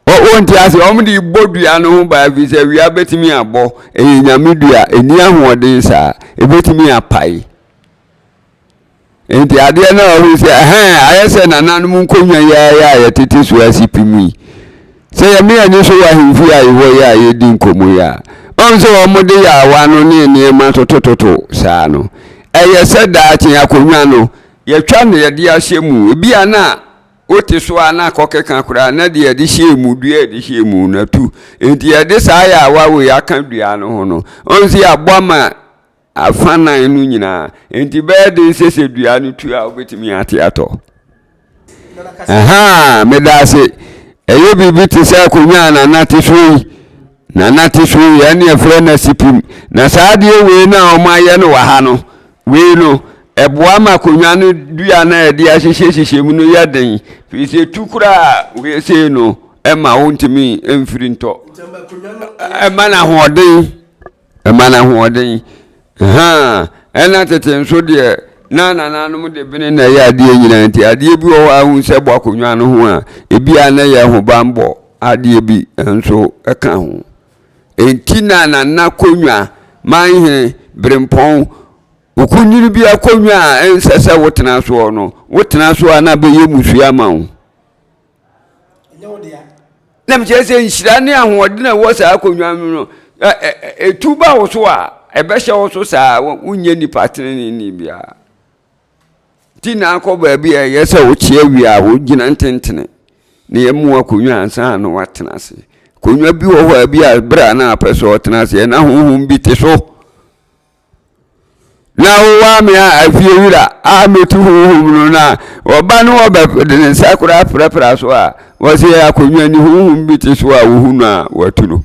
wɔnte ase wɔn de bɔ dua no ho baa fi sɛ wia bɛtumi abɔ ɛyɛ nyame dua ɛni ahoɔden saa ɛbɛtumi apae nti adeɛ no a ɔhu sɛ ɛhɛn ayɛ sɛ nananom nkonnwa yi ayɛ a yɛtete so asi pi mu yi sɛ yɛme ani so wɔ ahemfie a yɛwɔ yɛ a yɛdi nkɔmmɔ yi a ɔhu sɛ wɔn de yaawa no ne nneɛma totototo saa no ɛyɛ sɛ daakye akonnwa no yɛtwa na yɛde ahyɛ mu ebi a na wote so a na akɔkeka koraa na deɛ yɛde hyɛɛ mu dua yɛde hyɛɛ mu no atu nti yɛde saa yɛawa wei aka dua no ho no ɔn sɛ yɛabɔ ama afa nan no nyinaa nti bɛyɛ den sɛ sɛ dua no tu a wobɛtumi ate atɔ aha meda ase ɛyɛ biribi te sɛ akonnwa a nanate so yi Na na te so yɛ ne yɛfrɛ no asipim. Na saa adeɛ wei no a wɔayɛ no wɔ ha no, wei no, ɛboa ma akonnwa no dua no a yɛde ahyehyɛ hyehyɛ mu no yɛ den. Firi sɛ ɛtu koraa wei sei no, ɛma wontumi mfiri ntɔ. Ɛma no ahoɔden. Ɛma no ahoɔden. Ɛna tete nso deɛ na nananom de bene na ɛyɛ adeɛ nyinaa nti adeɛ bi wɔ hɔ a wohu sɛ bɔ akonnwa no ho a, ebi a na ɛyɛ ahobammɔ. Adeɛ bi nso ka ho. Enti na Nana Konwa, Manhene, Berempɔn, okunini bi akonnwa a ɛnsɛ sɛ wotena soɔ no, wotena so a na bɛyɛ mmusua ma wo. Na mekyerɛ sɛ nhyira ne ahoɔden a ɛwɔ saa akonnwa no no, ɛtu ba wo so a, ɛbɛhyɛ wo so saa, wonyɛ nipa tenenee biara. Nti na akɔ baabi a ɛyɛ sɛ wokyea wie a wogyina ntentene na yɛamu akonnwa ansa na woatena ase. Akonnwa bi wɔ hɔ a bi a berɛ a na apɛ sɛ ɔtena aseɛ na honhom bi te so. Na wowɔ ame a afie wura a mɛtu honhom no na ɔba no wɔbɛ de ne nsa koraa prapra so a wɔsɛ akonnwa ni honhom bi te so a wohu no a wɔatu no.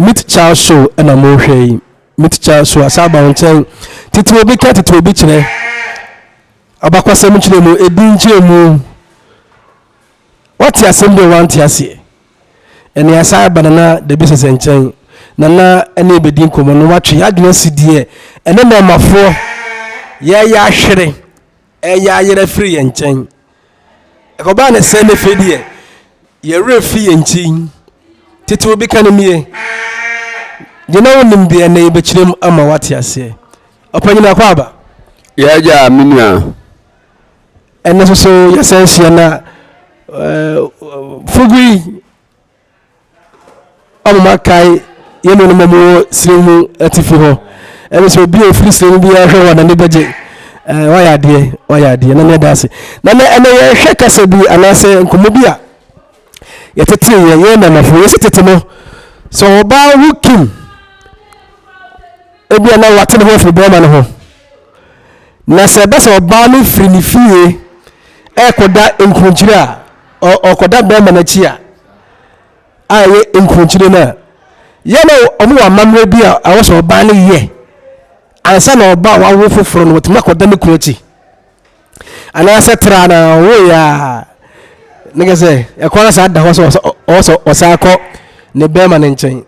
Me tikya show na mohwɛ yi. Me tikya show asa aba wo nkyɛn. Tete obi ka tete obi kyerɛ. Abakwasɛm kyerɛ mu, edin kyerɛ mu. Wate asɛm bi a wante aseɛ. Ɛne asa aba nana dabi sɛsɛ nkyɛn. Nana ɛne ebedi nkɔmmɔ no watwe adwene asi deɛ ɛne mɛmafoɔ yɛyɛ ahwere. ɛreyɛ ayera firi yɛn nkyɛn. Ɛkɔbaa ne sɛ ne fei deɛ yɛn werɛ fi yɛn nkyi. Tete obi ka no nie, deɛ na wonim deɛ ɛnɛ yɛbɛkyerɛ mu ama wate aseɛ. Ɔpanyin akɔ aba. Yɛagya me nua. Ɛnɛ soso yɛsɛ hyia na eh, fugui ama moakae yɛn nuanom a wɔwɔ sini mu atifi hɔ ɛne sɛ obi a ɔfiri sini no biara hwɛ wɔn n'ani bɛgye wayɛ adeɛ wayɛ adeɛ na meyɛda ase na nɛ ɛnɛ yɛhwɛ kasa bi anaasɛ nkɔmmɔ bi a yɛtetee yɛ yɛn nanafo yɛsi tete no sɛ ɔbaa ho kim ebi a na wate ne ho afiri bɛrima no ho na sɛ ɛbɛ sɛ ɔbaa no firi ne fie ɛrekɔda nkurunkyire a ɔkɔda bɛrima no akyi a a ɛyɛ nkurunkyire no a yɛ na wɔn wɔ amammerɛ bi a ɛwɔ sɛ ɔbaa no yɛ ansa na ɔbaa wawo foforɔ no wɔtumi akɔda ne kunu akyi anaasɛ tra na ɔwoeɛ a ne kɛ sɛ ɛkwan no saa da hɔ sɛ ɔwɔ sɛ ɔsan kɔ ne bɛrima no nkyɛn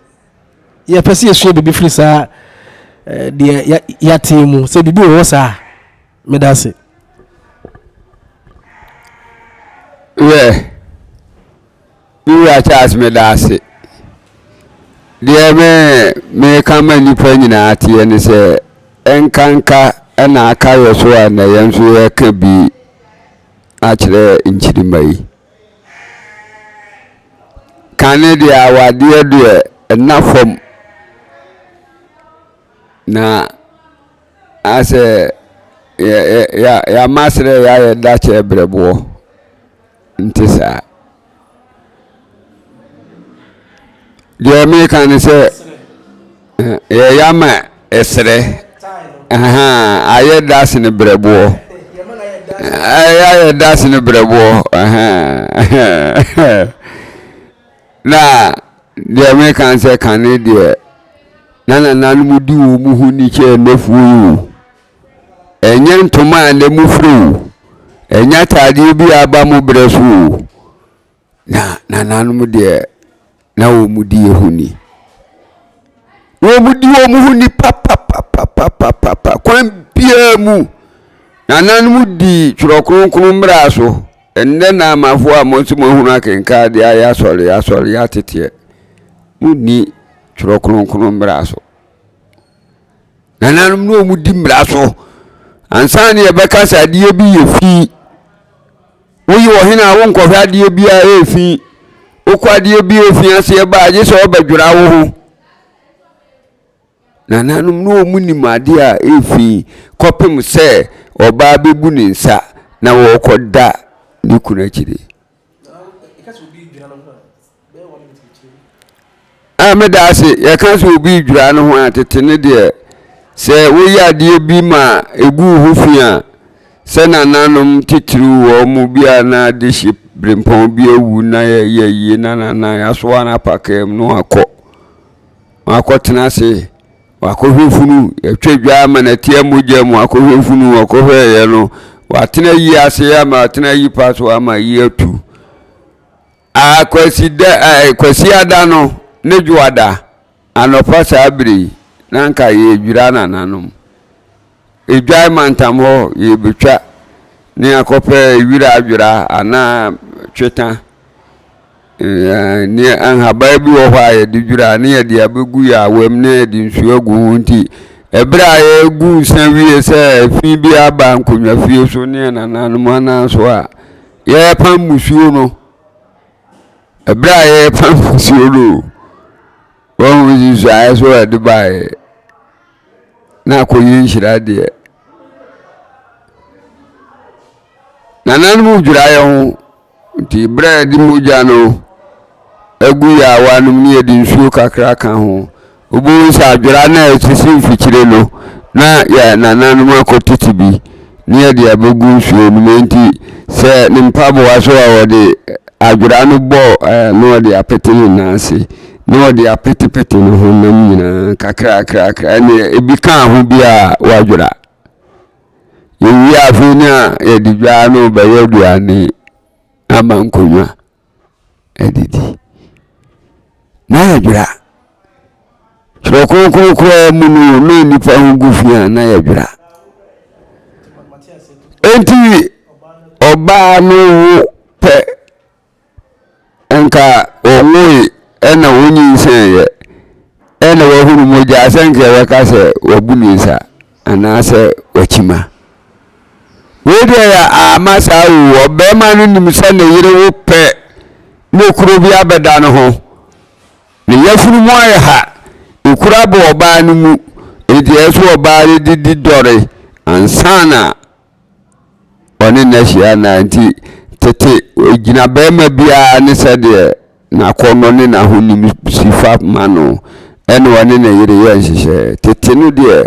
yɛpɛ sɛ yɛsua biribi firi saa eh, deɛ yɛatee mu sɛ biribi wɔ hɔ saa Medase. Werɛ. Me wura Charles meda ase. Deɛ me meka ma nnipa nyinaa teɛ ne sɛ ɛnkanka ɛna aka yɛ so a na yɛn nso yɛka bi akyerɛ nkyirima yi. Kane deɛ awadeɛ deɛ ɛna fam na Asɛ yɛ yɛ yɛ yɛama asrɛ yɛ ayɛ dakyɛ brɛboɔ nti saa deɛ meka ne sɛ yɛ yɛama ɛsrɛ ayɛ das ne brɛboɔ ayɛ das ne brɛboɔ Na deɛ mereka ne sɛ kane deɛ, na nananom di wɔn ho ni kyɛɛ nnɔfuo yi o. Ɛnyɛ ntoma a nnɛ mofira o, ɛnyɛ ataadeɛ bi a aba mo berɛ so o, na nananom deɛ, na wɔdi yɛn ho ni. Wɔdi wɔn ho ni papapapapapa, kwan biara mu. Nananom di Twerɛ Kronkron mmara so. Ndɛ na amafoɔ a mo nso moahunu akenkan adeɛ ayɛ asɔre asɔre yɛ ateteɛ monni twerɛ kronkron mmara so nananom ne ɔmu di mmara so ansa ne yɛbɛka sɛ adeɛ bi yɛ fi woyi wɔ hene a wonkɔhwɛ adeɛ bi a ɛyɛ fi wokɔ adeɛ bi yɛ fi aseɛ ba agye sɛ ɔbɛdwera wo ho Nananom no wɔn nim adeɛ a ɛrefi kɔpem sɛ ɔbaa bɛbu ne nsa na wɔrekɔ da ne kunu akyire. A meda ase yɛka sɛ obi redwira ne ho a tete ne deɛ sɛ woyɛ adeɛ bi ma ɛgu wo ho fi a sɛ nananom titiriw wɔn mu bi a na de hye berempɔn bi awu na yɛyɛ yie na nanan asoa no apakam no akɔ Wakɔtena ase, wakɔhwɛ funu, yɛtwa dwa ama no atia mogya mu, wakɔhwɛ funu, ɔkɔhwɛeɛ no, watena yi ase ama watena yi pa so ama yi atu. Akwasi da ɛɛ kwasi ada no ne dwoada anɔpa saa bere yi na nka yɛdwira nananom. Edwae mantam hɔ yebetwa ne akɔpɛ wira adwera anaa twetã. Ne nhaban bi wɔ hɔ a yɛde dwira ne yɛde abegu yɛ awam ne yɛde nsu agu ho nti ɛberɛ a yɛgu nsa wie sɛ fi bi aba nkonnwa fie so ne yɛn nananom anan so a yɛrepam musuo no ɛberɛ a yɛrepam musuo no wɔn nsusuaeɛ so a ɛde baeɛ na akɔyi nhyira deɛ nananom dwira yɛ ho nti berɛ a ɛde mogya no agu yɛ a wanom ne yɛde nsuo kakra ka ho wobɛhu sɛ adwera no a ɛsisi mfikyire no na yɛ nananom akɔtete bi ne ɛde abɛgu nsuo no mu enti sɛ ne mpaboa so a wɔde adwera no bɔ na wɔde apete ne nan ase na wɔde apetepete ne honam nyinaa kakrakrakra ɛne ebi kaa ho bi a wɔadwera yɛwie afei no a yɛde dwaa no bɛyɛ aduane ama nkonnwa adidi. Na yɛdwera. Twerɛ Kronkron koraa mu no wɔma nnipa ho gu fi a na yɛdwera. Enti ɔbaa no wo pɛ nka ɔwoe ɛna wonyinsɛnyɛ ɛna wahunu mogya sɛ nka yɛbɛka sɛ wabu ne nsa. anaasɛ wakyi ma. Wei deɛ yɛ ama saa o, ɔbarima no nim sɛ ne yere wo pɛ na okuro bi abɛda no ho. Ne yafunu mu ayɛ ha, ekura bɔ ɔbaa no mu, enti ɛsɛ ɔbaa no didi dɔre ansa na ɔne no ahyia anaa nti, tete gyinabarima biara ne sɛdeɛ n'akɔnnɔ ne n'ahonim si fa ma no na ɔne ne yere yɛ nhyehyɛeɛ. Tete no deɛ,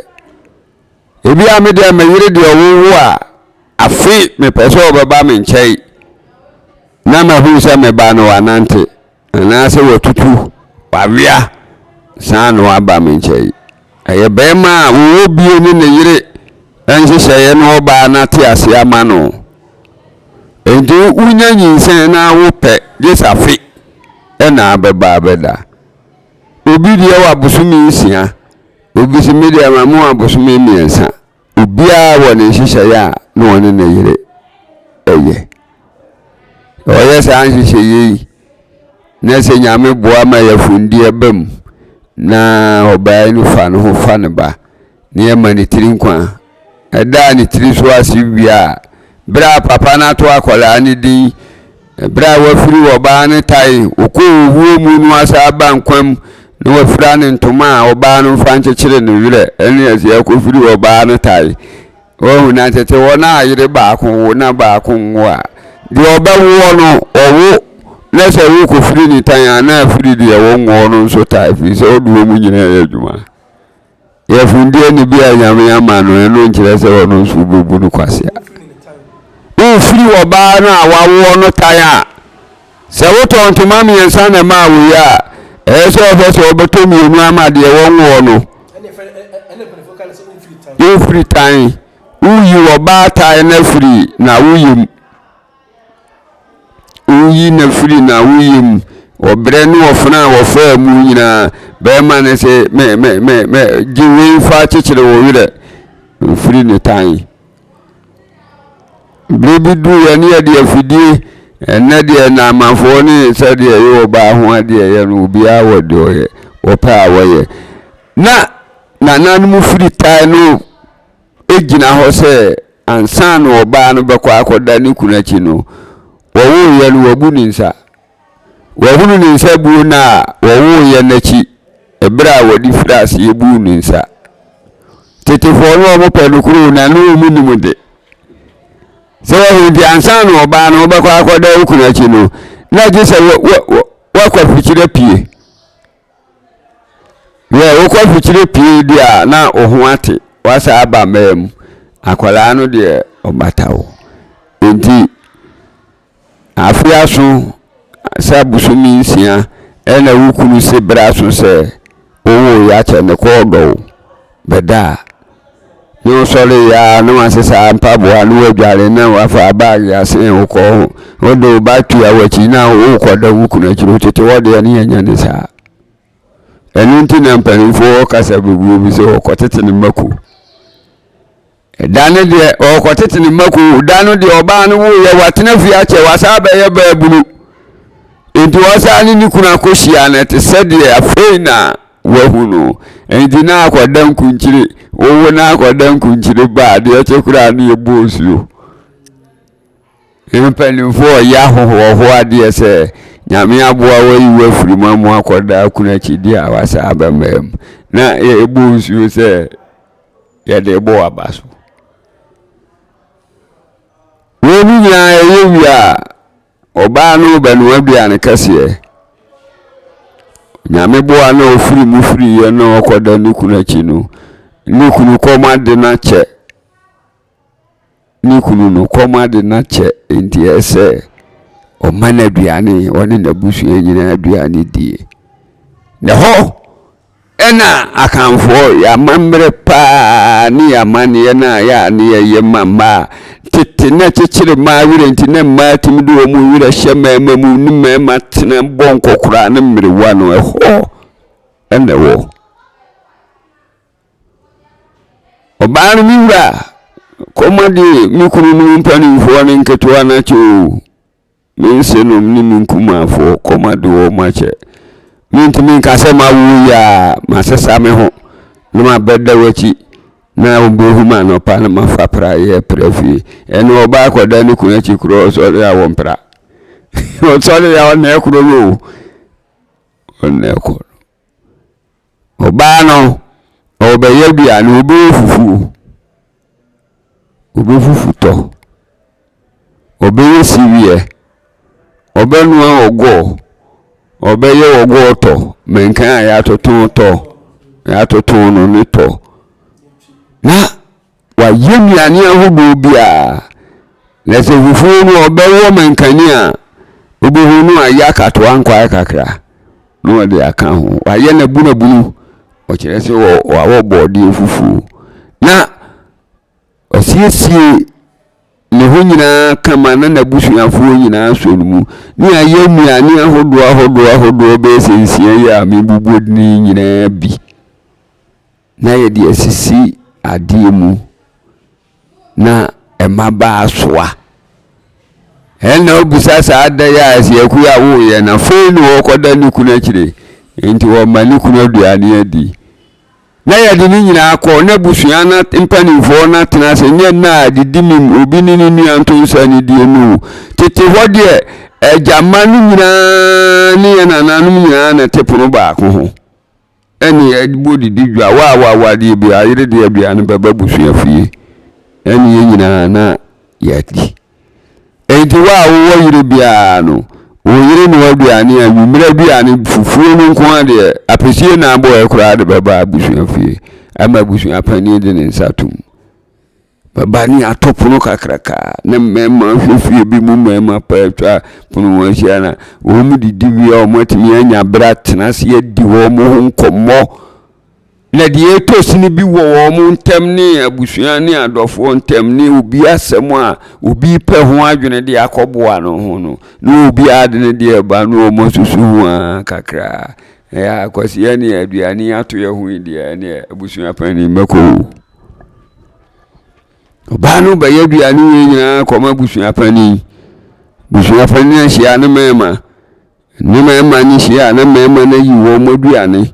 ebia me deɛ me yere deɛ ɔwowo a, afe mepɛ sɛ ɔbɛba me nkyɛn na mahunu sɛ me ba no wanante. Anaasɛ watutu w'awea saa na waba me nkyɛn. Ɛyɛ barima a ɔwɔ bie ne ne yere nhyehyɛeɛ na ɔbaa no ate aseɛ ama no. Enti wonya nyinsɛn na wopɛ gye safe na abɛba abɛda. Obi deɛ wɔ abosome nsia, obi se me deɛ ma mewɔ abosome mmiɛnsa. Obiara wɔ ne nhyehyɛeɛ a na ɔne ne yere yɛ. Ɔyɛ saa nhyehyɛeɛ yi na sɛ Nyame boa ma yɛfundeɛ ba mu na ɔbaa no fa ne ho fa ne ba na yɛma ne tiri nkwa a, ɛdaa ne tiri so ase wie a, berɛ a papa no ato akwadaa no din Ɛberɛ a wafiri wɔ ɔbaa no tae ɔkɔɔ owuo mu no wasan aba nkwa mu na wafira no ntoma a ɔbaa no mfa nkyekyere ne werɛ ɛne aseɛ akɔfiri wɔ ɔbaa no tae wahu na tete wɔn a yere baako wo na baako nwo a deɛ ɔbɛwoɔ no ɔwo na sɛ wokɔfiri ne tan a na afiri deɛ wɔnwoɔ no nso tae firi sɛ ɔde wɔn nyinaa yɛ adwuma. Yɛ fundeɛ no bi a nyame ama no ɛno nkyerɛ sɛ ɔno nso wobɛbu no kwasea. Wofiri wɔbaa no a wawoɔ no tan a, sɛ wotɔ ntoma mmiɛnsa na ɛmaa wo yɛ a, ɛyɛ sɛ ɔfɛ sɛ wɔbɛtɔ mmienu ama deɛ wɔnwoɔ no. Wofiri tan, woyi wɔbaa tan no afiri na woyɛ mu. Woyi no firi n'awoyɛ mu. Ɔbrɛ ne ɔfena a wɔfaa mu nyinaa, bɛrima no sɛ mɛ mɛ mɛ mɛ gye wei fa kyekyere wo werɛ. Mfiri ne tan. Berɛ bi duruiɛ ne yɛde afidie ɛnɛ deɛ naamanfoɔ ne sɛdeɛ ɛyɛ ɔbaa ho adeɛ yɛ no obiara wɔ deɛ ɔyɛ wɔpɛ a wɔyɛ. Na nananom firi tan no gyina hɔ sɛ ansa na ɔbaa no bɛkɔ akɔda ne kunu akyi no, wɔwoeɛ no wabu ne nsa. Wahunu ne nsa buo no a wɔwoeɛ no akyi berɛ a wɔde firi aseɛ buu ne nsa. Tetefoɔ no wɔn pɛ no kuro na ne wɔn nim de. Sɛ wɔhu nti ansa na ɔbaa no wɔbɛkɔ akɔda okunu akyi no, na gye sɛ wakɔ afikyire pie. Yɛ wokɔ mfikyire pii deɛ a na wo ho ate wasa aba mmaa mu akwadaa no deɛ ɔbata wo nti afe aso sɛ abosome nsia ɛna wo kunu se bere aso sɛ wowo yɛ akyɛ ne kɔɔ dɔ wo bɛda a, na ɔsɔre yɛ a na wasesa mpaboa na wadware na wafa baage asen wo kɔ ho. Wode wo ba tua w'akyi na wokɔda wo kunu akyiri wotete hɔ deɛ ne yɛnyɛ ne saa. Ɛno nti na mpanimfoɔ kasa bebree bi sɛ ɔkɔtete ne mma kuo. Da no deɛ ɔrekɔtete ne mma kuu da no deɛ ɔbaa no woeɛ watena fie akyɛ wasaa bɛyɛ baabunu nti ɔsaa ne ne kunu akɔhyia no te sɛ deɛ afei na wahu no nti na akɔda nkunkyire wowo na akɔda nkunkyire baa deɛ ɛkyɛ koraa no yɛ bɔɔ nsuo mpanimfoɔ ɔyɛ ahohoɔhoɔ adeɛ sɛ nyame aboa wayi wafiri mu amu akɔda akunu akyi deɛ a wasaa bɛmmaa mu na ɛbɔɔ nsuo sɛ yɛde bɔ aba so. Wei no nyinaa ɛyɛ wie a ɔbaa no bɛnoa aduane kɛseɛ nyame boa na ɔfiri mu firiiɛ na ɔkɔda ne kunu akyi no ne kunu kɔm ade no akyɛ ne kunu no kɔm ade no akyɛ enti ɛsɛ sɛ ɔma no aduane, ɔne n'abusua nyinaa aduane die. Na hɔ ɛna Akanfoɔ yɛ amammerɛ paa ne yɛ amanneɛ no a yɛ a ne yɛyɛ ma mmaa. Tete na kyekyere mmaa werɛ nti na mmaa tumi de wɔn werɛ hyɛ mmarima mu ne mmarima tena bɔ nkɔkoraa ne mmerewa no ɛhɔ ɛna ɛwɔ. Ɔbaa no me wura kɔma de me kunu no mpanimfoɔ ne nketewa no akyɛ o me nsenom ne me nkumafoɔ kɔma de wɔn akyɛ mentumi nka sɛ mawo yi a masesa me ho na mabɛda w'akyi na wobɛhu ma anɔpa na mafa pra yɛ pra fie ɛne ɔbaa kɔda ne kunu akyi korɔ ɔsɔre a wɔmpra ɔsɔre a ɔnɛ korɔ no o ɔnɛ korɔ Ɔbaa no, ɔrebɛyɛ aduane, ɔrebɛyɛ fufuo. Ɔbɛfufu tɔ, ɔbɛyɛ sereɛ, ɔbɛnoa ɔgɔɔ, ɔbɛyɛ ɔgɔɔ tɔ, mankan a yɛatoto tɔ, yɛatoto no ne tɔ. Na. Wɔayɛ nnuane ahodoɔ biara. Na sɛ fufuo no ɔbɛwɔ mankani a wobɛhunu no ayɛ akatoa nkwaeɛ kakra na wɔde aka ho. Wɔayɛ no abunabunu, ɔkyerɛ sɛ wɔawɔ bɔɔdeɛ fufuo. Na ɔsiesie ne ho nyinaa kama na n'abusuafoɔ nyinaa sɔ no mu. Ne ayɛ nnuane ahodoɔ ahodoɔ ahodoɔ bɛyɛ sɛ nsia yi a mebubu din nyinaa bi. na yɛde asisi adeɛ mu na ɛma baa soa ɛna ɔbusa saa da yɛ a asiaku a woyɛ na fei ne wɔkɔda ne kunu akyire nti wɔma ne kunu aduane adi na yɛde ne nyinaa kɔ na busua na mpanimfoɔ no atena ase nyɛ na a didi mim obi ne ne nua nto nsa ne die no tete hɔ deɛ agyama no nyinaa ne yɛ nananom nyinaa na te pono baako ho ɛne yɛn bɔ didi dwa wo a woawo adeɛ bi ayere deɛ aduane bɛba abusua fie ɛne yɛn nyinaa na yɛadi enti wo a wowɔ yere biara no wo yere no aduane a nwummerɛ aduane fufuo no nko adeɛ apɛsie na abɔɛ koraa de bɛba abusua fie ama abusua panin de ne nsa tom Bɛba ne ato pono kakraka a na mmarima hwɛ fie bi mu mmarima paa atwa pono ho ahyia na wɔn didi wie a wɔatumi anya berɛ atena ase adi wɔn ho nkɔmmɔ na deɛ ɛtɔ sini bi wɔ wɔn ntam ne abusua ne adɔfoɔ ntam ne obi asɛm a obi pɛ ho adwene de akɔboa no ho no na obi ade ne deɛ ba no wɔn asusu ho a kakra ɛyɛ akwasiɛ ne aduane ato yɛ ho yi deɛ ɛne abusua panin bɛkɔ o. ɔbaa no bɛyɛ aduane wei nyinaa kɔma abusua panin abusua panin ahyia ne mmarima ne mmarima no hyia a na mmarima no ayi wɔn aduane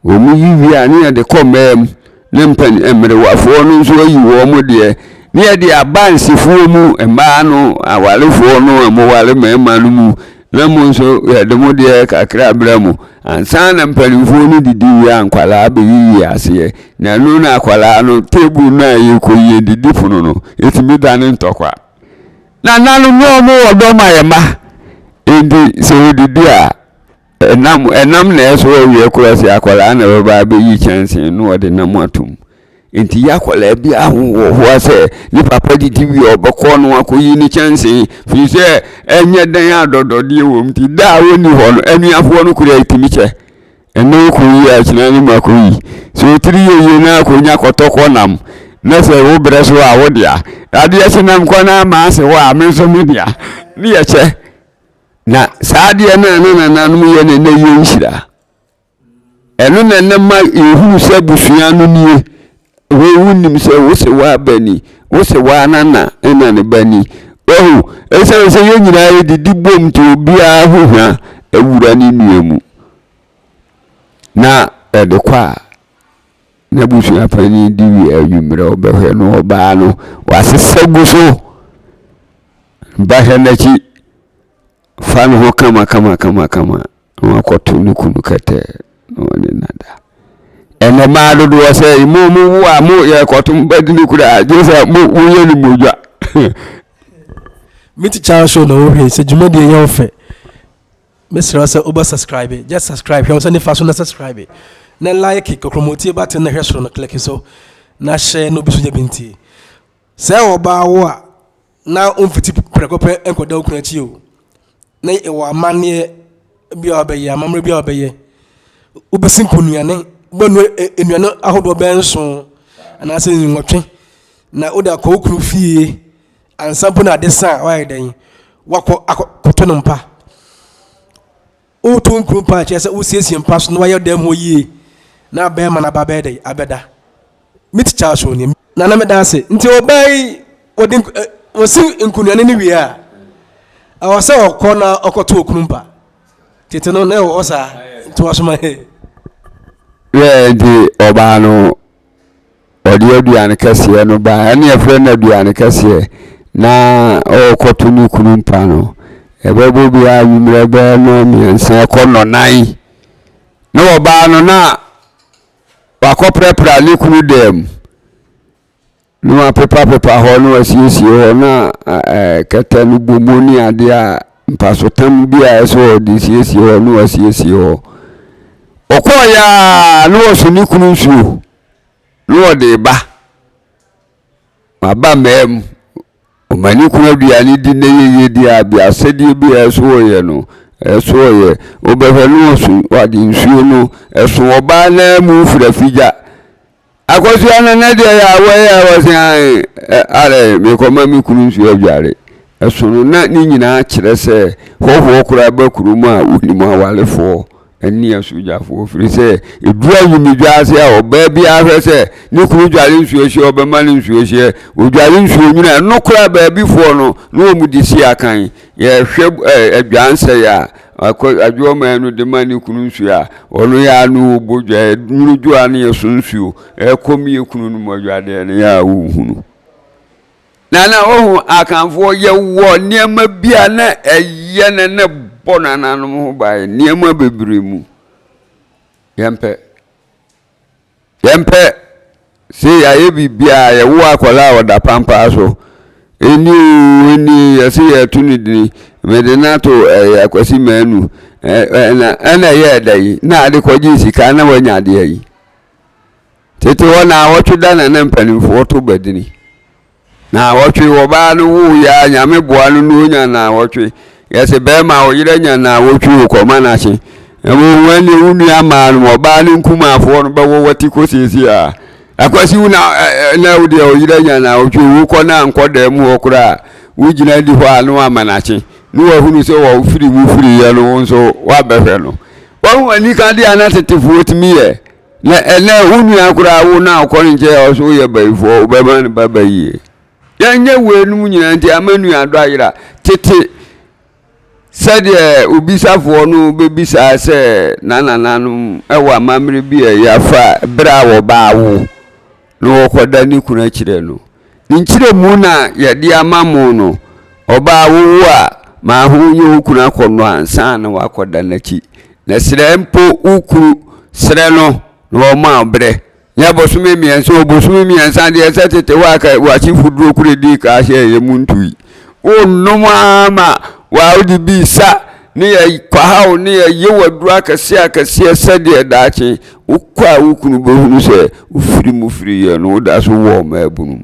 wɔn yi wie a ne yɛde kɔ mmaa mu ne mpanin mmerewafoɔ no nso ayi wɔn deɛ ne yɛde aba nsefoɔ mu mmaa no awarefoɔ no a wɔware mmarima no mu Na mo nso yɛde mo deɛ kakra brɛ mo ansa na mpanimfoɔ no didi wie a nkwadaa bɛyiyi aseɛ na ɛno na akwadaa no table no a yɛkɔyi adidipono no ɛtumi dane ntɔkwa nananom no ɔmo wɔ dɔ ma yɛ mma enti sɛ wɔdidi a ɛnam ɛnam na ɛso awie korɔ sɛ akwadaa na ɛbɛba abɛyi kyɛnsee no wɔde nam atom Enti yɛn akwadaa biara ho wɔ hɔ a sɛ ne papa didi wie a ɔbɛkɔ no akɔyi ne kyɛnsee firi sɛ ɛnyɛ dan a dɔdɔdeɛ wɔ mu nti da a ɔnni hɔ no anuafoɔ no kura ɛtumi kyɛ ɛnɛ wokɔyi a kyena no mu akɔyi sɛ ɔtiri yɛ yie no akɔnya kɔtɔkɔ nam na sɛ wo berɛ so a wo dea adeɛ kye nam kɔ no ama ase hɔ a me nso me dea ne yɛkyɛ na saa adeɛ no a na nananom yɛ no ɛnɛ yɛnhyira Ɛno na na ma yɛhunu sɛ abusua no nie. Hwɛ, wonim sɛ wo se w'aba ni, wo se w'anana na ne ba ni. Wahu, ɛsiane sɛ yɛn nyinaa yɛdidi bom nti obiara ho hwa awura ne nua mu. Na ɛde kɔ a, na abusua panin di wie anwummerɛ ɔbɛhwɛ no ɔbaa no, wasesa gu so. Ba hwɛ n'akyi. fa ne ho kamakamakama na wakɔto ne kunu kɛtɛ na ɔne no ada ɛnɛ maa dodoɔ sɛ mo mo wo a mo yɛ kɔto mo bɛdi ne kura a gye sɛ mo woyɛ ne mogya me ti kyaa show na wohwɛ sɛ dwumadie yɛ wo fɛ mesrɛ sɛ wobɛ subscribe just subscribe hwɛ wo sɛ nifa so na subscribe na like kɔkrɔmɔtie bate na hwɛ soro no click so na hyɛ na obi so gya bi ntie sɛ ɔbaa wo a na womfiti prɛko pɛ nkɔda wo kunu akyi o na ɛwɔ amanneɛ bi a wɔbɛyɛ amammerɛ bi a wɔbɛyɛ wobɛsi nkɔnuane wobɛnu nnuane ahodoɔ bɛyɛ nson anaasɛ nwɔtwe na wode akɔ wo kunu fie ansa mpo na ade sa a woayɛ dɛn wakɔ akɔtɔ no mpa Woto nkuro paa kyerɛ sɛ wosiesie mpa so na wayɛ dan mu hɔ yie na abɛɛma no aba bɛyɛ dɛ abɛda me tikya aso ni na na meda ase nti ɔbaa yi wɔde eh, wɔsi nkunuane no wie a ɛwɔ sɛ ɔkɔ na ɔkɔto okunu mpa tete no na ɛwɔ hɔ saa nti wɔsoma he. Wɛɛ nti ɔbaa no ɔde aduane kɛseɛ no ba ɛne ɛfrɛ no aduane kɛseɛ na ɔrekɔto ne kunu mpa no ɛbɛbɔ bi a nwummerɛ bɛyɛ no mmiɛnsa ɛkɔ nɔnan na ɔbaa no na wakɔprapra ne kunu dɛm Na wɔapepapepa hɔ na wɔasiesie hɔ na kɛtɛ no bɔ mu ne adeɛ a mpasotam bi a ɛsɛ wɔde siesie hɔ na wɔasiesie hɔ ɔkɔɔeɛ a na wɔso ne kunu nsuo na wɔde ba maba mmaa mu ɔma ne kunu aduane di na yɛyɛ di a bi asɛdeɛ bi a ɛso wɔyɛ no ɛso wɔyɛ wobɛhwɛ na wɔso wɔde nsuo no ɛso ɔbaa naa mu firafigya Akosua no ne deɛ yɛ awɔ yɛ awɔ se ae ɛ are mekɔma me kunu nsuo adware ɛsono na ne nyinaa kyerɛ sɛ hɔhoɔ koraa ba kurom a wonim awarefoɔ ne asogyafoɔ firi sɛ ɛduru awumedwa ase a ɔbaa biara hwɛ sɛ ne kunu dware nsuo hyeɛ ɔbɛma no nsuo hyeɛ ɔdware nsuo nwunu a ɛno koraa baabifoɔ no na wɔn de si akan yɛhwɛ adwansɛe a Akɔ adwoɔ maa no de ma ne kunu nsuo a ɔno yɛ ano wɔ bodwa yɛ nwunu dwoɔ ano yɛ so nsuo ɛkɔ mi yɛ kunu no mu adwadeɛ no yɛ a wohunu nana wohu akanfoɔ yɛ wɔ nneɛma bi a na ɛyɛ ne ne bɔ nananom ho baeɛ nneɛma bebree mu yɛmpɛ Yɛmpɛ se yɛayɛ biribiara a yɛwo akwadaa a ɔda pampaa so. Ɛnni oo, ɛnni, yɛse yɛreto no dini, mede no ato ɛɛ Akwasi Manu. Ɛna ɛna ɛyɛɛ da yi na ade kɔgyee sika na wanya adeɛ yi. Tete hɔ na awɔtwe da na na mpanimfoɔ to badini. Naawɔtwe wɔ ɔbaa no woo yɛ a Nyame boa no na onya naawɔtwe. Yɛse bɛɛma a ɔyerɛ nya naawɔtwe o kɔma no ahye. Na wohu ɛneɛ wo nua maa nom ɔbaa ne nkumaafoɔ no bɛwɔ wati kɔ siesie a. Akwasi wo na na wo deɛ ɔyerɛ anya naawɔtwe o wo kɔ no a nkɔ dɛm hɔ koraa wo gyina di hɔ a na wama no ahye. Ne wahunu sɛ wɔ firi wo firi yɛ no wo nso wabɛhwɛ no. Wahu anika deɛ a na tetefoɔ tumi yɛ. Na ɛnɛ wo nua koraa wo na ɔkɔ ne nkyɛn a ɔso woyɛ bayifoɔ wobɛma ne ba bayie yɛnyɛ weinom nyinaa nti ama nuadɔ ayera tete sɛdeɛ obisafoɔ no bɛbisaa sɛ nanananom wɔ amammerɛ bi a ɛyɛ afa berɛ a wɔbaa wo na ɔkɔda ne kunu akyirɛ no. Ne nkyirɛmu na yɛde ama mo no, ɔbaa wowu a, ma ho nye wo kunu akɔnnɔ ansa na woakɔda n'akyi. Na srɛ mpo wo kunu, srɛ no na ɔma wo berɛ, nyɛ bosome mmiɛnsa o, bosome mmiɛnsa deɛ ɛsɛ tete hɔ a ka w'asefoduro koro ɛdii ka ahyɛɛ yɛ mu ntui. Wonnom ara ma w'awode bi resa ne yɛ kwaha wo ne yɛ yew aduro akɛseɛ akɛseɛ sɛdeɛ daakye wokɔ a wo kunu bɛhunu sɛ wofiri mu firiiɛ no woda so wɔ mmaabunu mu.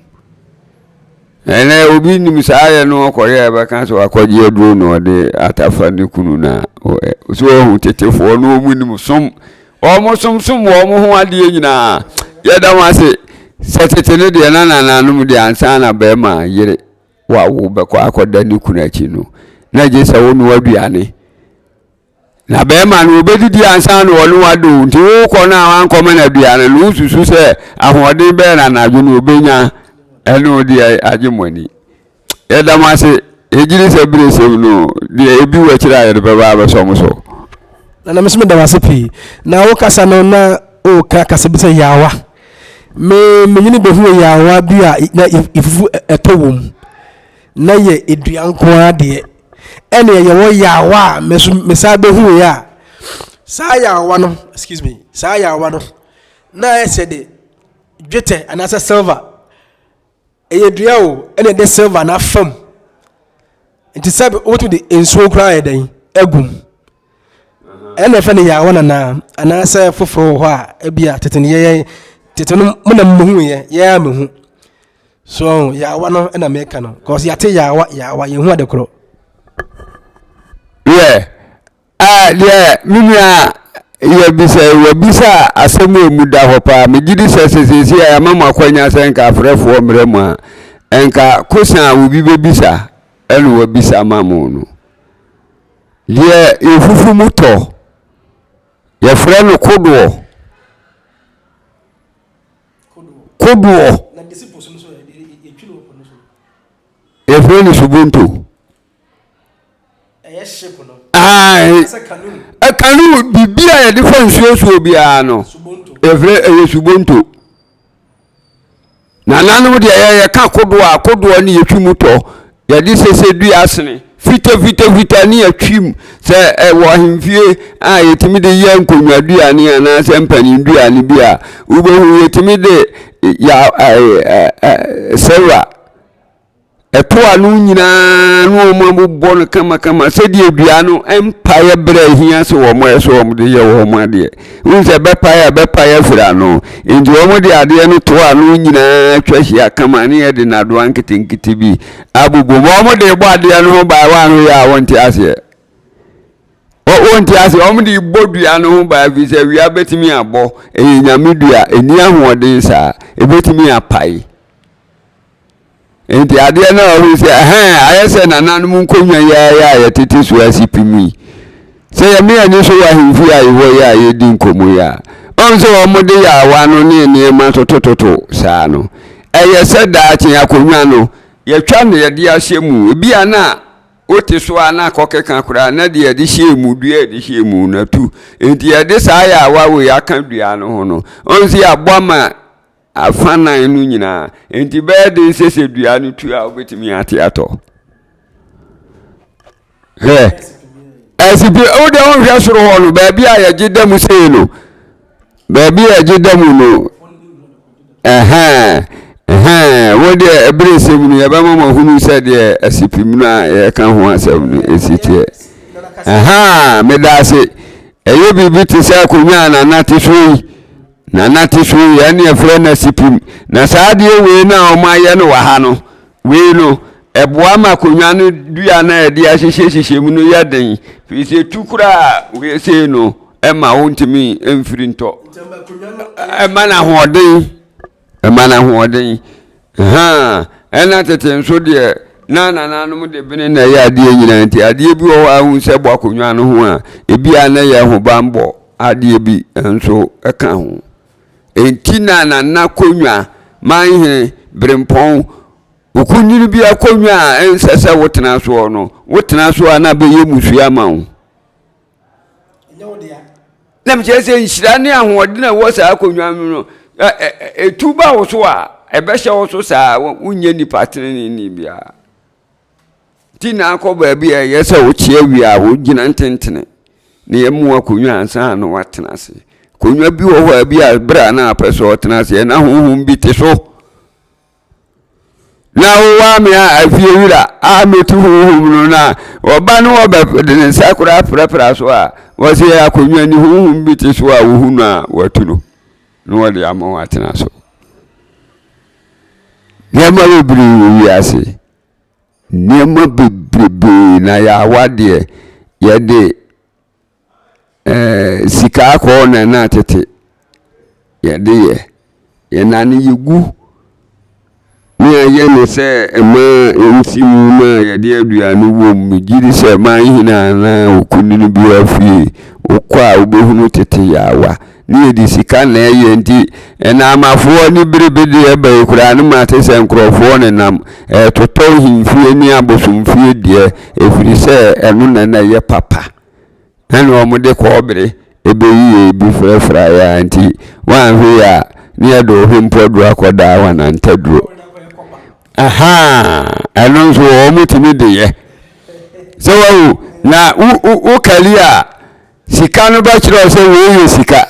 Ɛnɛ obi nim saa yɛ no ɔkɔyɛ a ɛbɛka sɛ wakɔgye aduro na ɔde atafa ne kunu na so ɔhu tetefoɔ no wɔn nim som wɔn som som wɔn ho adeɛ nyinaa yɛda ho ase sɛ tete no deɛ na nananom deɛ ansa na bɛrima yere wa wo bɛkɔ akɔda ne kunu akyi no na gye sɛ wonoa aduane na bɛrima no obɛdidi ansa na ɔne wade o nti wokɔ no a wankɔma no aduane no wosusu sɛ ahoɔden bɛɛ na anadwo no obɛnya ɛne ode agye mo ani yɛda mo ase ɛgyiri sɛ bere sɛm no deɛ ɛbi wɔ akyiri a yɛde bɛba abɛsɔ mo so na na mesome da wase pii na wokasa no na woka kasa bi sɛ yawa Me me nyini bɛhuu yaawa bi a na efufu ɛtɔ wɔ mu na yɛ edua nko ara deɛ ɛna ɛyɛ wɔ yaawa a me nso me san bɛhuu yɛ a saa yaawa no excuse me saa yaawa no na ayɛ sɛ de dwetɛ anaasɛ silver Ɛyɛ dua o, ɛna ɛde silver no afam. Nti sɛ wotumi de nsuo koraa yɛ dɛn agum. Ɛna ɛfɛ no yaawa nanaa anaasɛ foforɔ wɔ hɔ a ebi a tete no yɛyɛ tete no mo na mo hu yɛ yɛn a mo hu. So yaawa no ɛna mɛka no, cause yate yaawa yaawa yɛn hu ade korɔ. Yeah. Ah, deɛ me nua yɛbisa yi, wabisa asɛm a ɛmu da hɔ paa. Megye di sɛ sɛ seesei a yɛama mo akwanya sɛ nka afrɛfoɔ mmerɛ mu a, nka kosa a obi bɛbisa ɛna wabisa ma mo no. Deɛ yɛfufu mu tɔ, yɛfrɛ no kodoɔ. Kodoɔ. Yɛfrɛ no subonto. Ae, canoe, biribi a yɛde fa nsuo soɔ biara no, yɛfrɛ ɛyɛ subonto. Nananom deɛ yɛ yɛka kodoɔ a, kodoɔ ne yɛtwi mu tɔ. Yɛde sese dua asene fita fita fita ne yɛtwi mu. Sɛ ɛwɔ ahemfie a yɛtumi de yɛ nkonnwa duane anaasɛ mpanin duane bi a, wobɛhu yɛtumi de ya silver Ɛtoa no nyinaa na wɔn abobɔ no kamakama sɛdeɛ dua no mpaeɛ berɛ a ɛhia sɛ wɔn yɛ so wɔn de yɛ wɔn adeɛ wohu sɛ bɛpaeɛ a bɛpaeɛ afiri ano nti wɔn de adeɛ no toa no nyinaa twa hyia kama ne yɛde nadoa nketenkete bi abobɔ mu wɔn de bɔ adeɛ no ho baa wɔn ano yɛ a wɔnte aseɛ wɔnte aseɛ wɔn de bɔ dua no ho baa fi sɛ wia bɛtumi abɔ ɛyɛ nyame dua ɛni ahoɔden saa ɛbɛtumi apae Enti adeɛ no a ɔhu sɛ ɛhɛn ayɛ sɛ nananom nkonnwa yi ara yɛ a yɛtete so a si pi mu yi. Sɛ yɛmee ani so wɔ ahemfie a yɛwɔ yi a yɛredi nkɔmmɔ yi a, ɔhu sɛ wɔde yaawa no ne nneɛma totototo saa no. Ɛyɛ sɛ daakye akonnwa no, yɛtwa na yɛde ahyɛ mu, ebia na wote so ara na akɔkeka koraa na deɛ yɛde hyɛɛ mu, dua a yɛde hyɛɛ mu no atu. Enti yɛde saa yaawa wei aka dua no ho no, ɔhu sɛ yɛaboa ma Afã nnan no nyinaa. Enti ɛbɛyɛ den sɛ sɛ dua no tu a wobɛtumi ate atɔ. Hwɛ. Asipi, wode wonhwɛ soro hɔ no, baabi a yɛgye da mu sei no, baabi a yɛgye da mu no, ɛhɛn, ɛhɛn, wo deɛ ɛbere sɛm no yɛbɛma ma hunu sɛ deɛ asipim no a yɛka ho asɛm no ɛsi teɛ. Ɛhɛn, meda ase. Ɛyɛ biribi te sɛ akonnwa a nanate so yi. Na na te so yɛ ne yɛfrɛ no asipim. Na saa adeɛ wei no a wɔayɛ no wɔ ha no, wei no, ɛboa ma akonnwa no dua no a yɛde ahyehyɛ hyehyɛ mu no yɛ den. Firi sɛ ɛtu koraa wei sei no, ɛma wontumi mfiri ntɔ. Ɛma no ahoɔden. Ɛma no ahoɔden. Hã, ɛna tete nso deɛ na nananom de bene na ɛyɛ adeɛ nyinaa nti adeɛ bi wɔ hɔ a wohu sɛ bɔ akonnwa no ho a, ebi a na ɛyɛ ahobammɔ adeɛ bi nso ka ho. Enti na nana konnwa, manhene, berempɔn, okunini bi akonnwa a ɛnsɛ sɛ wotena soɔ no, wotena so a na abɛyɛ mmusua ma wo. na mekyerɛ sɛ nhyira ne ahoɔden a ɛwɔ saa akonnwa no no ɛtu ba wo so a ɛbɛhyɛ wo so saa wonyɛ nnipa teneneni biara nti na akɔ baabi a ɛyɛ sɛ wokyea wie a wogyina ntentene na yɛmu akonnwa ansa na woatena ase akonnwa bi wɔ hɔ a bi a berɛ a na apɛ sɛ ɔtena ase ɛna honhom bi te so na wowaa me a afie wura a metu honhom no no a ɔba no ɔbɛde ne nsa koraa prapra so a wɔse yɛ akonnwa ni honhom bi te so a wohu no a watu no na wɔde ama wɔn atena so nneɛma bebree wɔ wiase nneɛma bebree na yɛawa deɛ yɛde Ɛɛ sika akɔɔ na na tete yɛde yɛ yɛn na ne yɛgu ne ayɛ no sɛ ɛmaa nsi mu ma yɛde aduane wɔ mu gye di sɛ ɛmaa hene anaa okunini bi afie wokɔ a wobɛhunu tete yaawa ne yɛde sika na ɛyɛ nti ɛnaamafoɔ ne berebedeɛ bɛyi koraa no ma te sɛ nkurɔfoɔ ne nam ɛtotɔ hemfie ne abosomfie deɛ ɛfiri sɛ ɛno na na ɛyɛ papa Nna wɔde kɔɔbere beyiyɛ bi furafurae ara nti, wɔanhwɛ yie a, na yɛde ɔhwempo aduru akɔdaa wɔn antaduro. Ahaa, ɛno nso wɔtumi de yɛ. Sɛ wahu, na wokari a, sika no bɛkyerɛ sɛ wei yɛ sika.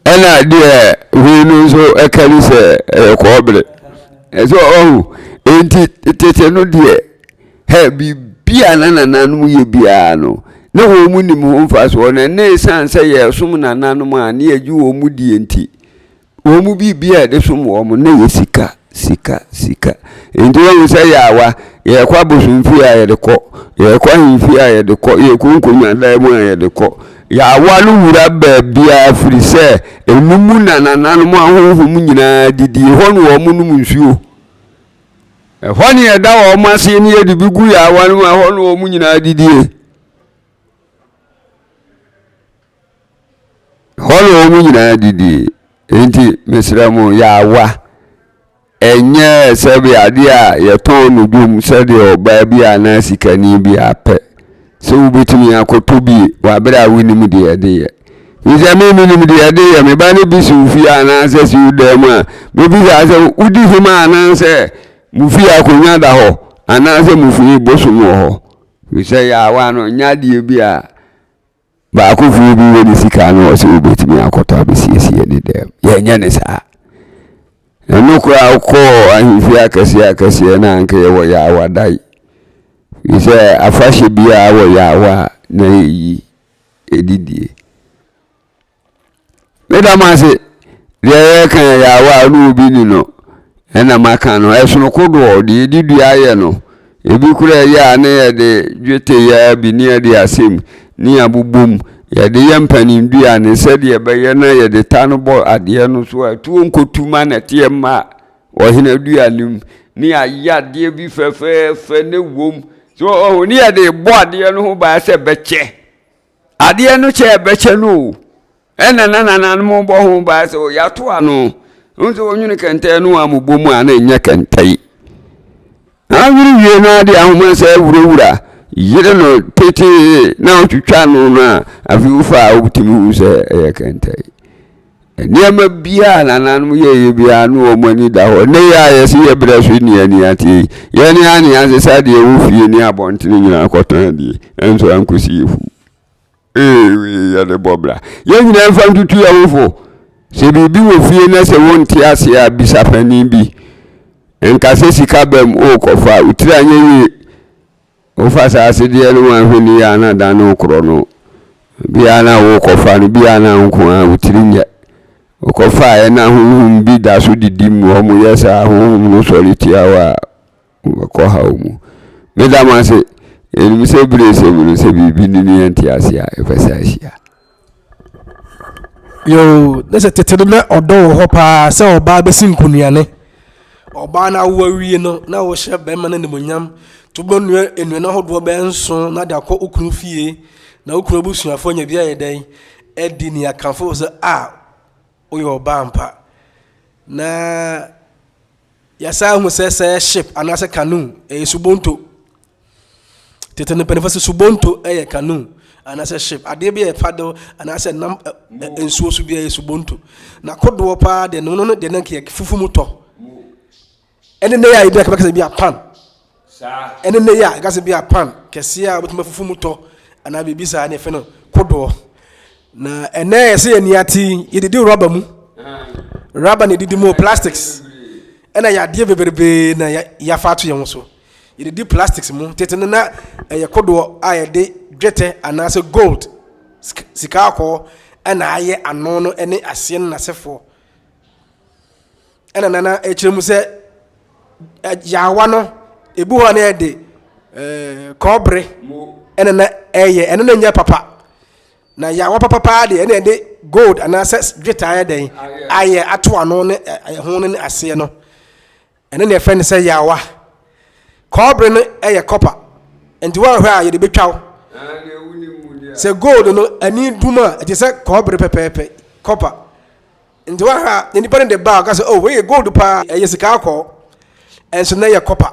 Ɛna deɛ wei no nso kari sɛ ɛyɛ kɔɔbere. Ɛsɛ ɔhu, enti tete no deɛ. Hɛ, biribi a na nananom yɛ biara no, na wɔn nim ho mfasoɔ, na na ɛsiane sɛ yɛresom nananom a na yɛgye wɔn mu die nti, wɔn mu biribi a yɛde som wɔn no, na ɛyɛ sika, sika, sika. Enti wɔhu sɛ yɛawa, yɛrekɔ abosomfie a yɛde kɔ, yɛrekɔ ahemfie a yɛde kɔ, yɛrekɔ nkonnwadan mu a yɛde kɔ. Yɛawa no wura baabiara firi sɛ ɛno mu na nananom ahonhom nyinaa didi, ɛhɔ na wɔnom nsuo. Ɛhɔ ne yɛda wɔn ase ne yɛde bi gu yaawa no mu ɛhɔ ne wɔn nyinaa didie. Ɛhɔ ne wɔn nyinaa didie. Enti mesrɛ mo yaawa ɛnyɛ sɛbi adeɛ a yɛtɔn no dwom sɛdeɛ ɔbaa bi anaa sikani bi apɛ. Sɛ wubetumi akɔtɔ bi wɔ bere a wunim deɛ ɛde yɛ. Efisɛ me minim deɛ ɛde yɛ me ba no bi siw fie anaasɛ siw dan mu a, mebisaa sɛ, Wudi him anaasɛ mo fie akonnwa da hɔ anaasɛ mo fie bosom wɔ hɔ? Efisɛ yaawa no nyɛ adeɛ bi a Baako firi bi wɔ ne sika na ɔwɔ sɛ ɔbɛtumi akɔtɔ abɛsiesie ne dɛm. Yɛnyɛ no saa. Ɛno koraa wokɔɔ ahemfie akɛseɛ akɛseɛ na anka yɛwɔ yaawa dae. Firi sɛ afahyɛ biara wɔ yaawa a na yɛyi ɛdidie. Meda mo ase. Deɛ yɛreka yɛ yaawa a ɔne obi ni no ɛna maka no. Ɛsono kodoɔ, deɛ yɛde dua yɛ no. Ebi koraa yɛ a ne yɛde dwetɛ yɛ ara bi ne yɛde asɛ mu ne yɛabobɔ mu. Yɛde yɛ mpaninduan no sɛdeɛ ɛbɛyɛ na yɛde ta no bɔ adeɛ no so a tuo nkɔtu ma nnɛteɛ mma ɔhenaduan no mu. Ne yɛayɛ adeɛ bi fɛfɛɛfɛ na ɛwom. So ɔho ne yɛde rebɔ adeɛ no ho ban sɛ ɛbɛkyɛ. adeɛ no kyɛ ɛbɛkyɛ no o ɛna na nananom bɔ ho baa sɛ yɛato ano hu sɛ wɔnwene kɛntɛn no a mobɔ mu a na ɛnyɛ kɛntɛn anwene wie no ade ahoma sɛ awurawura yere no tetee na ɔtwitwa no no a afei wofa a wobɛtumi hu sɛ ɛyɛ kɛntɛn Nneɛma biara a nananom yɛeɛ biara na wɔn ani da hɔ. Nnɛ yi a yɛse yɛ berɛ so nni ani ateɛ yi, yɛn ne yɛn anease sɛ adeɛ wɔ fie ne abɔntene nyinaa kɔtɔn adie, ɛnso ankɔsi afu. Ee, wei yɛ de bɔ bra. Yɛn nyinaa mfa ntutu yɛn ho fo. Sɛ biribi wɔ fie na sɛ wonte aseɛ a, bisa panin bi. Nka sɛ sika bam wokɔfa a, wo tiri anyɛ yie. Wofa saa asedeɛ no mu ahoni yi a na da no rekorɔ no, bi a na worekɔfa no, bi a na wo nko ara wo tiri nyɛ. Wokɔfaeɛ na honhom bi da so didi mu, wɔyɛ saa, honhom no sɔre tia wo a, wobɛkɔ haw mu. Meda mo ase, yɛnim sɛ bere a ɛsɛ mu no, sɛ biribi nni ne yɛnte aseɛ a, yɛbɛsan ahyia. Yoo, ne sɛ tete no na ɔdɔ wɔ hɔ paa sɛ ɔbaa bɛsi nkonuane. Ɔbaa no awo awie no, na wɔhyɛ bɛrima no animonyam to bɛnua nnuane ahodoɔ bɛyɛ nson na de akɔ wo kunu fie na wo kunu abusuafoɔ anya bi ayɛ dɛn adi ne akamfo sɛ a woyɛ ɔbaa ampa. Na yɛasan ahu sɛ sɛ ship anaasɛ canoe ɛyɛ subonto. Tete no mpanyinfoɔ sɛ subonto yɛ canoe anaasɛ ship adeɛ bi a ɛfa do anaasɛ nam nsuo so bi a yɛ subonto na kodoɔ paa deɛ no no no deɛ no yɛ fufu mu tɔ ɛne ne yɛ a ebi a kɛbɛkɛsɛ bi a pan ɛne ne yɛ a kɛbɛkɛsɛ bi a pan kɛseɛ a wobɛtumi fufu mu tɔ anaa biribi saa ne fɛ no kodoɔ na ɛnɛ yɛ sɛ yɛ nia ti yɛdidi rɔba mu rɔba na yɛdidi mu plastics ɛna yɛ adeɛ bebrebe na yɛafa ato yɛn ho so. Yedidi plastics mu. Tete no na ɛyɛ kodoɔ a yɛde dwetɛ anaasɛ gold, sika akɔɔ, ɛna ayɛ ano no ɛne aseɛ no n'asefoɔ. Ɛna nana ɛkyerɛ mu sɛ yaawa no ebi hɔ a na yɛde ɛɛ kɔɔbere ɛna na ɛyɛ ɛno na nyɛ papa na yaawa papa paa deɛ ɛna yɛde gold anaasɛ dwetɛ ayɛ dɛn ayɛ ato ano ne ɛho no ne aseɛ no. Ɛno na yɛfrɛ no sɛ yaawa. Kɔɔbere no yɛ kɔpa, nti woanhwɛ a yɛde betwa wo. Sɛ gold no ani dum a, ɛte sɛ kɔɔbere pɛpɛɛpɛ, kɔpa. Nti woanhwɛ a na nipa no de ba a ɔka sɛ, oh wei yɛ gold paa, ɛyɛ sika akɔɔ, ɛnso na ɛyɛ kɔpa.